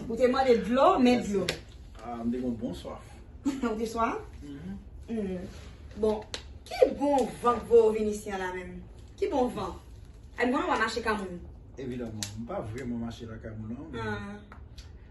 Ou te mande dlo, men dlo. Ah, m te gon bon swaf. Ou te swaf? Mm-hmm. Mm-hmm. Bon, ki bon van pou ou vin isi an la menm? Ki bon van? Ay m konnen w a mache ka moun. Evidaman, m pa vreman mache la ka moun an. Ah.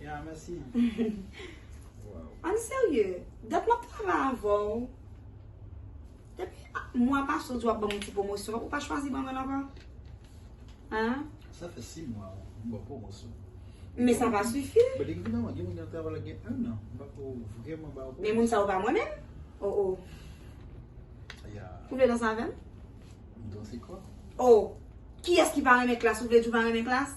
Yeah merci. An serye, dat map travay avèw, depi mwa pase ou di wap banm yon ti pwomosyon, ou pa chwazi banm yon ankò? An? Sa fè 6 mwa ou m baw pwomosyon. Men sa pa sifi. But evidaman gen moun ki ap travay la gen 1 an, m pako vrèman baw pwomosyon. Men moun sa yo pa mwen menm? Oh oh. Yeah. Ou vle danse avèm? Danse kò? Oh! Kiyès ki pa renmen klass? Ou vle di ou pa renmen klass?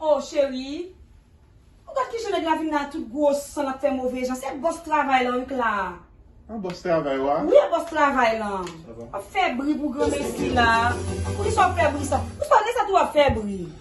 Oh cherie Ou gad kijan nèg la vin la tout gwo san lap fè move jan se bòs travay lan wi k la Wi a bòs travay lan Wap fè bri pou granmesi la Poukisa wap fè bri sa Ou pa wè sa tou wap fè bri.